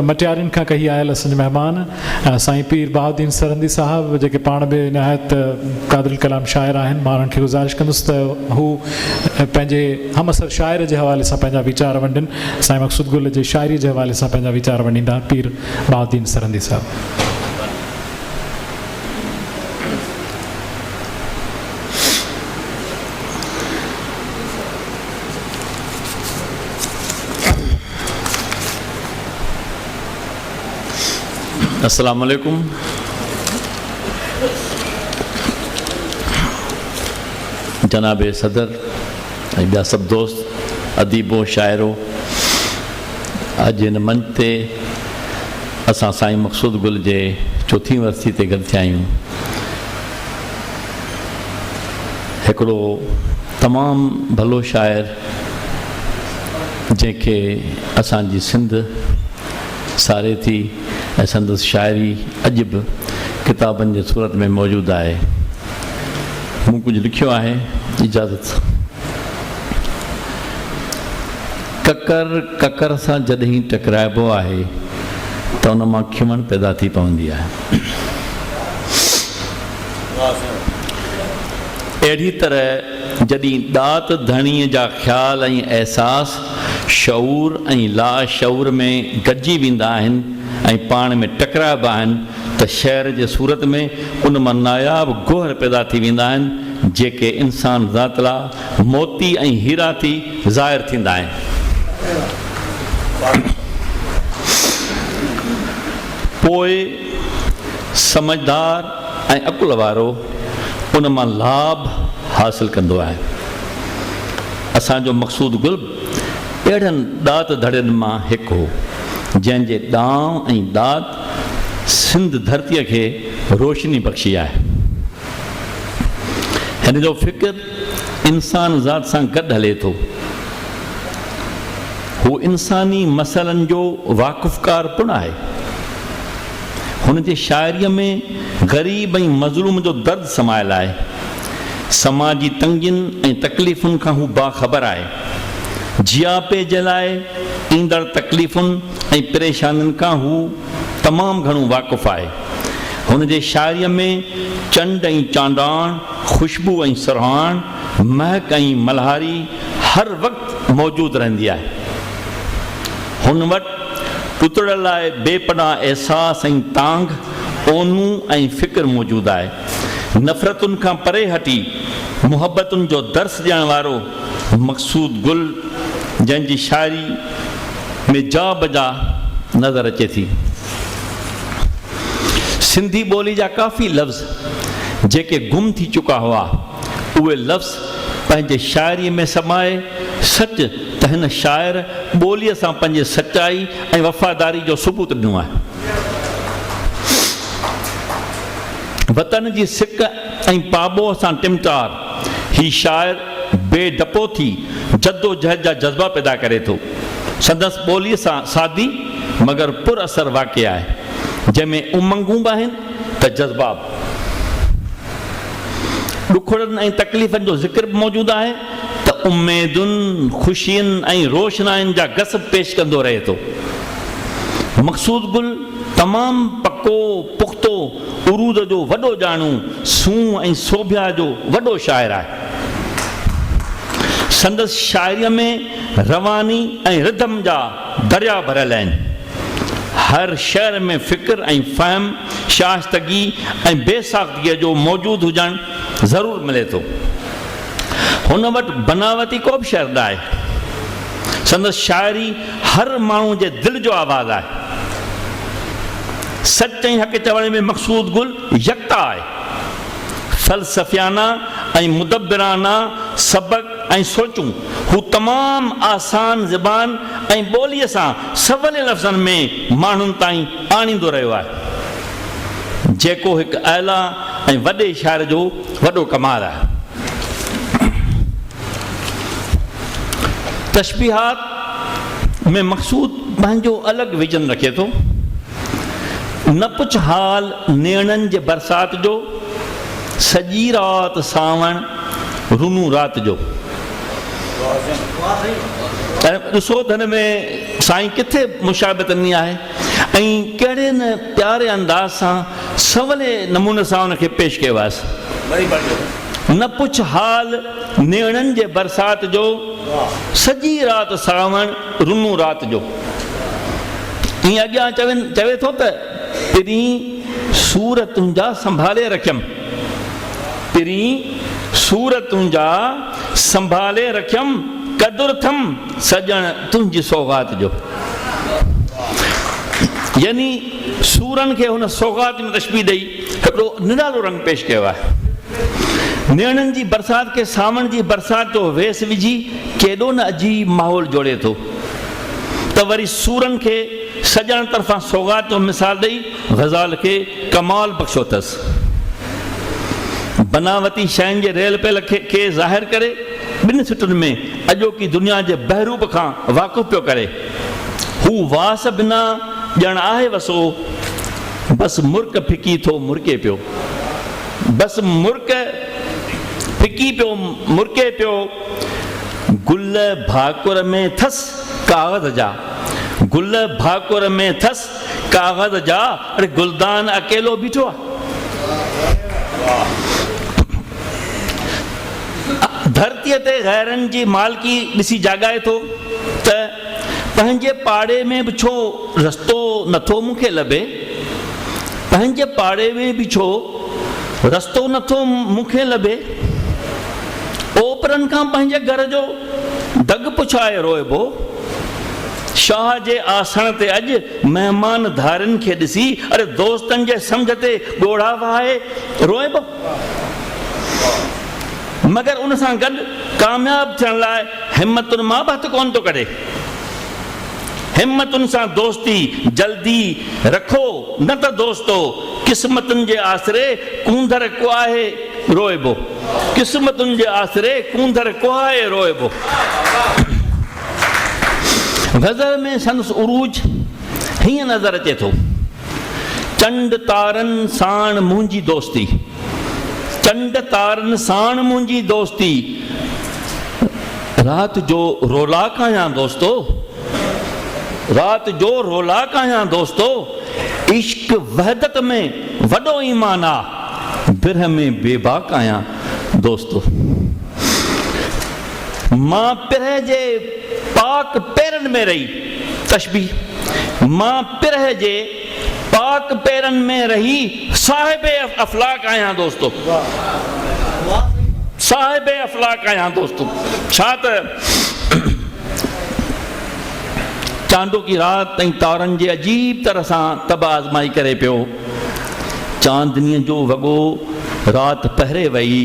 مٽيارين کان ڪهي آيل اسان جي مهمان سائين پير بهاؤالدين سرهندي صاحب جيڪي پاڻ به نهايت قادرالڪلام شاعر آهن مان انهن کي گذارش ڪندس ته هو پنهنجي همعصر شاعر جي حوالي سان پنهنجا ويچار ونڊين سائين مقصود گل جي شاعري جي حوالي سان پنهنجا ويچار ونڊيندا پير بهاؤالدين سرهندي صاحب السلام عليڪم جناب صدر ۽ ٻيا سڀ دوست اديبو شاعرو اڄ هن منچ تي اسان سائين مقصود گل جي چوٿين ورسي تي گڏ ٿيا آهيون. هڪڙو تمام ڀلو شاعر جنهن کي اسان جي سنڌ ساري ٿي ۽ سندس شاعري اڄ به ڪتابن جي صورت ۾ موجود آهي. مون ڪجهه لکيو آهي. اجازت. ڪڪر ڪڪر سان جڏهن ٽڪرائبو آهي ته ان مان کمڻ پيدا ٿي پوندي آهي. اهڙي طرح جڏهن ڏات ڌڻيء جا خيال ۽ احساس شعور ۽ لا شعور ۾ گڏجي ويندا آهن ۽ پاڻ ۾ ٽڪرائبا آهن ته شعر جي صورت ۾ ان مان ناياب گوهر پيدا ٿي ويندا آهن جيڪي انسان ذات لا موتي ۽ هيرا ٿي ظاهر ٿيندا آهن. پوء سمجهدار ۽ عقل وارو ان مان لاڀ حاصل ڪندو آهي. اسان جو مقصود گل اهڙن ڏات ڌڙين مان هڪ هو، جنهن جي ڏانء ۽ ڏات سنڌ ڌرتيء کي روشني بخشي آهي. هن جو فڪر انسان ذات سان گڏ هلي ٿو. هو انساني مسئلن جو واقفڪار پڻ آهي. هن جي شاعريء ۾ غريب ۽ مظلوم جو درد سمايل آهي. سماجي تنگين ۽ تڪليفن کان هو باخبر آهي. جياپي جي لاء ايندڙ تڪليفن ۽ پريشانين کان هو تمام گهڻو واقف آهي. هن جي شاعريء ۾ چنڊ ۽ چانڊاڻ، خوشبو ۽ سرهاڻ، مهڪ ۽ ملهاري هر وقت موجود رهندي آهي. هن وٽ ٽٽڙ لاء بي پناهه احساس ۽ تانگھ، اونو ۽ فڪر موجود آهي. نفرتن کان پري هٽي محبتن جو درس ڏيڻ وارو مقصود گل جنهن جي شاعري ۾ جا بجا نظر اچي ٿي. سنڌي ٻولي جا ڪافي لفظ جيڪي گم ٿي چڪا هئا، اهي لفظ پنهنجي شاعريء ۾ سمائي، سچ ته هن شاعر ٻوليء سان پنهنجي سچائي ۽ وفاداري جو ثبوت ڏنو آهي. وطن جي سڪ ۽ پاٻوهه سان ٽمٽار هي شاعر بي ڊپو ٿي جدوجهد جا جذبا پيدا ڪري ٿو. سندس ٻوليء سان سادي مگر پر اثر واقعي آهي، جنهن ۾ امنگون به آهن ته جذبات، ڏکڙن ۽ تڪليفن جو ذڪر به موجود آهي ته اميدن، خوشين ۽ روشناين جا گس به پيش ڪندو رهي ٿو. مقصود گل تمام پڪو، پختو، عروض جو وڏو ڄاڻو، سونهن ۽ سوڀيا جو وڏو شاعر آهي. سندس شاعريء ۾ رواني ۽ ردم جا درياء ڀريل آهن. هر شعر ۾ فڪر ۽ فهم، شائستگي ۽ بي ساختگيء جو موجود هجڻ ضرور ملي ٿو. هن وٽ بناوتي ڪو به شعر نه آهي. سندس شاعري هر ماڻهو جي دل جو آواز آهي. سچ ۽ حق چوڻ ۾ مقصود گل يڪتا آهي. فلسفيانه ۽ مدبرانه سبق ۽ سوچون، هو تمام آسان زبان ۽ ٻوليء سان سولي لفظن ۾ ماڻهن تائين آڻيندو رهيو آهي، جيڪو هڪ اعليٰ ۽ وڏي شاعر جو وڏو ڪمال آهي. تشبيهات ۾ مقصود پنهنجو الڳ ويزن رکي ٿو. نه پڇ حال نيڻن جي برسات جو. سڄي رات سانوڻ رنون رات جو. ڏسو ته هن ۾ سائين ڪٿي مشابهت ڏني آهي ۽ ڪهڙي نه پياري انداز سان سولي نموني سان ان کي پيش ڪيو آهيس. نه پڇ حال نيڻن جي برسات جو، سڄي رات سانوڻ رنون رات جو. ائين اڳيان چوي ٿو ته. پرين سور تنهنجا سنڀالي رکيم پرين سور تنهنجا سنڀالي رکيم قدر ٿم سڄڻ تنهنجي سوغات جو يعني سورن کي هن سوغات ۾ تشبيهه ڏئي هڪڙو نرالو رنگ پيش ڪيو آهي نيڻن جي برسات کي ساوڻ جي برسات جو ويس وجهي ڪيڏو نه عجيب ماحول جوڙي ٿو ته وري سورن کي سڄڻ طرفان سوغات جو مثال ڏئي غزال کي ڪمال بخشيو اٿس. بناوتي شين جي ريل پيل کي ظاهر ڪري ٻن سٽن ۾ اڄوڪي دنيا جي بهروپ کان واقف پيو ڪري. هو واس بنا ڄڻ آهي وسو، بس مرڪ ڦڪي ٿو مرڪي پيو. بس مرڪ ڦڪي پيو مرڪي پيو. گل ڀاڪر ۾ ٿس ڪاغذ جا. گل ڀاڪر ۾ ٿس ڪاغذ جا اڙي گلدان اڪيلو بيٺو آ ڌرتي تي غيرن جي مالڪي ڏسي جاڳائي ٿو ته پنهنجي پاڙي ۾ به ڇو رستو نٿو مون کي لڀي پنهنجي پاڙي ۾ به ڇو رستو نٿو مون کي لڀي اوپرن کان پنهنجي گهر جو دڳ پڇائي روئبو شاهه جي آسڻ تي اڄ مهمان ڌارين کي ڏسي اڙي دوستن جي سمجهه تي ڳوڙها وهائي روئبو. مگر ان سان گڏ ڪامياب ٿيڻ لاء همتن مان به هٿ ڪونه ٿو ڪڍي. همتن سان دوستي جلدي رکو نه ته دوستو قسمتن جي آسري ڪونڌر ڪوهي روئبو. قسمتن جي آسري ڪونڌر ڪوهائي روئبو. غزل ۾ سندس عروج هيئن نظر اچي ٿو. چنڊ تارن ساڻ منهنجي دوستي. چنڊ تارن ساڻ منهنجي دوستي. رات جو رولاڪ آهيان دوستو. رات جو رولاڪ آهيان دوستو. عشق وحدت ۾ وڏو ايمان آ. پرهه ۾ بي باڪ آهيان دوستو. مان پرهه جي پاڪ پيرن ۾ رهي تشبيهه مان پرهه جي پاڪ پيرن ۾ رهي صاحب افلاڪ آهيان دوستو. صاحب افلاڪ آهيان دوستو. ڇا ته چانڊوڪي رات ۽ تارن جي عجيب طرح سان طبع آزمائي ڪري پيو. چاندنيء جو وڳو رات پهري ويئي،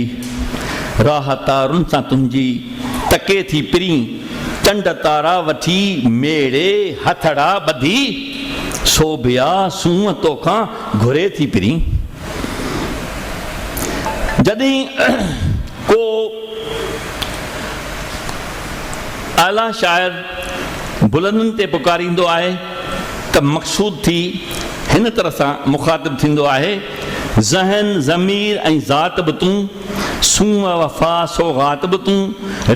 راهه تارن سان تنهنجي تڪي ٿي پرين، چنڊ تارا وٺي ميڙي هٿڙا ٻڌي، سوڀيا سونهن توکان گهري ٿي پرين. جڏهن ڪو اعليٰ شاعر بلندن تي پڪاريندو آهي. ته مقصود ٿي هن طرح سان مخاطب ٿيندو آهي، ذهن، ضمير ۽ ذات به تون، سونهن، وفا، سوغات به تون،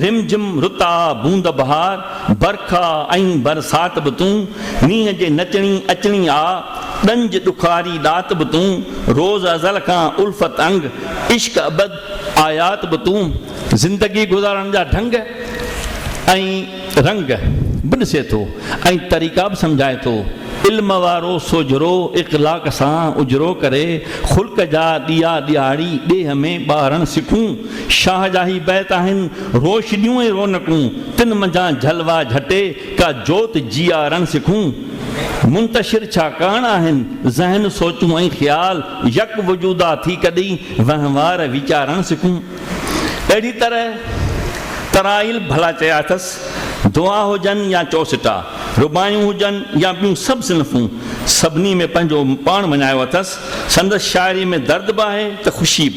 رم جم، رت آ، بوند بهار، برک آ ۽ برسات به تون، مينهن جي نچڻي، اچڻي آ، ڏنج، ڏکاري، ڏات به تون، روز ازل کان الفت انگ، عشق ابد، آيات به تون، زندگي گذارڻ جا ڍنگ ۽. رنگ به ڏسي ٿو ۽ طريقا به سمجهائي ٿو. علم وارو سوجهرو اخلاق سان اجرو ڪري خلق جا ڏيئا ڏيئاڙي ڏيهه ۾ ٻارڻ سکون. شاهه جا هي بيت آهن، روشنيون ۽ رونقون تن منجهان جلوا جهٽي ڪا جوت جيئارڻ سکون. منتشر ڇا ڪاڻ آهن ذهن سوچون ۽ خيال، يڪ وجودا ٿي ڪڏهين وهنوار ويچارڻ سکون. اهڙي طرح ترائيل ڀلا چيا اٿس، دعا هجن يا چؤسٽا، رباعيون هجن يا ٻيون سڀ صنفون، سڀني ۾ پنهنجو پاڻ مڃايو اٿس. سندس شاعريء ۾ درد به آهي ته خوشي،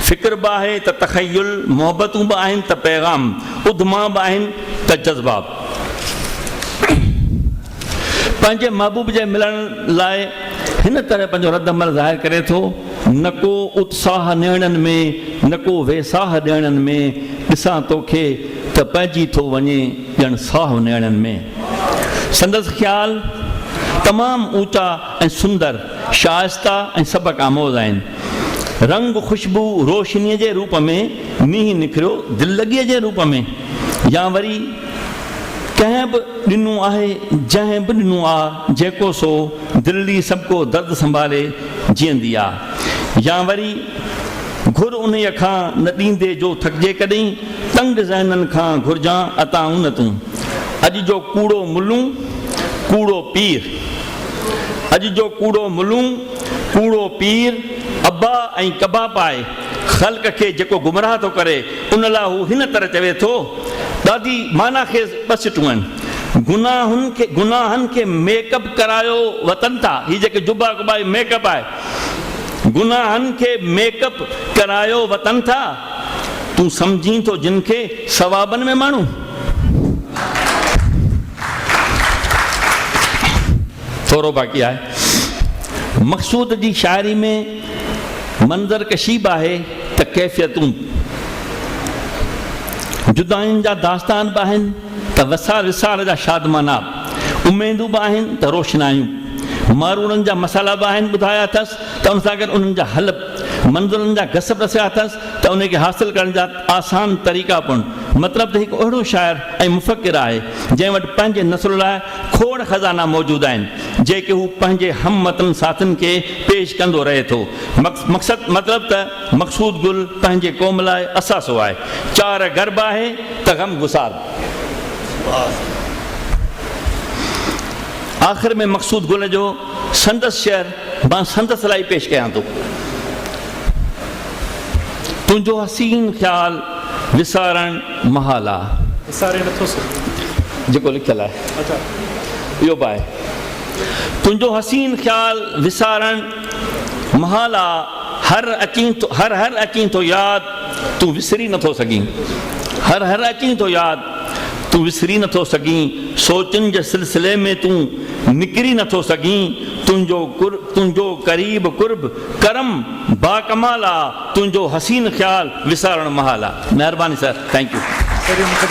فڪر به آهي ته تخيل، محبتون به آهن ته پيغام، اڌما به آهن ته جذبا. پنهنجي محبوب جي ملڻ لاء هن طرح پنهنجو رد عمل ظاهر ڪري ٿو، نه ڪو اتساهه نيڻن ۾، نه ڪو ويساهه ڏيڻن ۾، ڏسان توکي ته پئجي ٿو وڃي ڄڻ ساهه نيڻن ۾. سندس خيال تمام اوچا ۽ سندر، شائسته ۽ سبق آموز آهن. رنگ، خوشبو، روشنيء جي روپ ۾، مينهن نکريو دللڳيء جي روپ ۾، يا وري، ڪنهن به ڏنو آهي جنهن به ڏنو آ جيڪو سو دلڙي سڀڪو درد سنڀالي جيئندي آ يا وري گهر انهيء کان نه ڏيندي جو ٿڪجي ڪڏهن تنگ ذهنن کان گهرجان عطائون نه تون اڄ جو ڪوڙو ملون ڪوڙو پير اڄ جو ڪوڙو ملون ڪوڙو پير ابا ۽ ڪبا پائي خلق کي جيڪو گمراهه ٿو ڪري ان لاء هو هن طرح چوي ٿو، ڏاڍي معنيٰ خيز ٻه سٽون آهن، گناهن کي گناهن کي ميڪ اپ ڪرايو وتن ٿا، هي جيڪي جبا ڪبا هي ميڪ اپ آهي، گناهن کي ميڪ اپ ڪرايو وتن ٿا، تون سمجهين ٿو جن کي ثوابن ۾ ماڻهو. ٿورو باقي آهي مقصود جي شاعري ۾. منظر ڪشي به آهي ته ڪيفيتون جداين جا داستان به آهن ته وسار وسار جا شادمانا اميدون به آهن ته روشنايون ماروڙن جا مسئلا به آهن ٻڌايا اٿس ته ان سان گڏ انهن جا حل منظرن جا گس به ڏسيا اٿس ته انهي کي حاصل ڪرڻ جا آسان طريقا پڻ مطلب ته هڪ اهڙو شاعر ۽ مفڪر آهي جنهن وٽ پنهنجي نسل لاء کوڙ خزانا موجود آهن، جيڪي هو پنهنجي هم وطن ساٿين کي پيش ڪندو رهي ٿو. مقصد مطلب ته مقصود گل پنهنجي قوم لاء اثاثو آهي. چار غرب آهي ته غم گسار. آخر ۾ مقصود گل جو سندس شعر مان سندس لاء پيش ڪيان ٿو. تنهنجو حسين خيال وسارڻ. محال آ جيڪو لکيل آهي اهو به آهي تنهنجو حسين خيال وسارڻ محال آ هر اچين ٿو هر هر اچين ٿو ياد تون وسري نٿو سگهين هر هر اچين ٿو ياد تون وسري نٿو سگهين سوچن جي سلسلي ۾ تون نڪري نٿو سگهين تنهنجو تنهنجو قريب قرب ڪرم باڪمال آ تنهنجو حسين خيال وسارڻ محال آ. مهرباني سر ٿينڪ يو.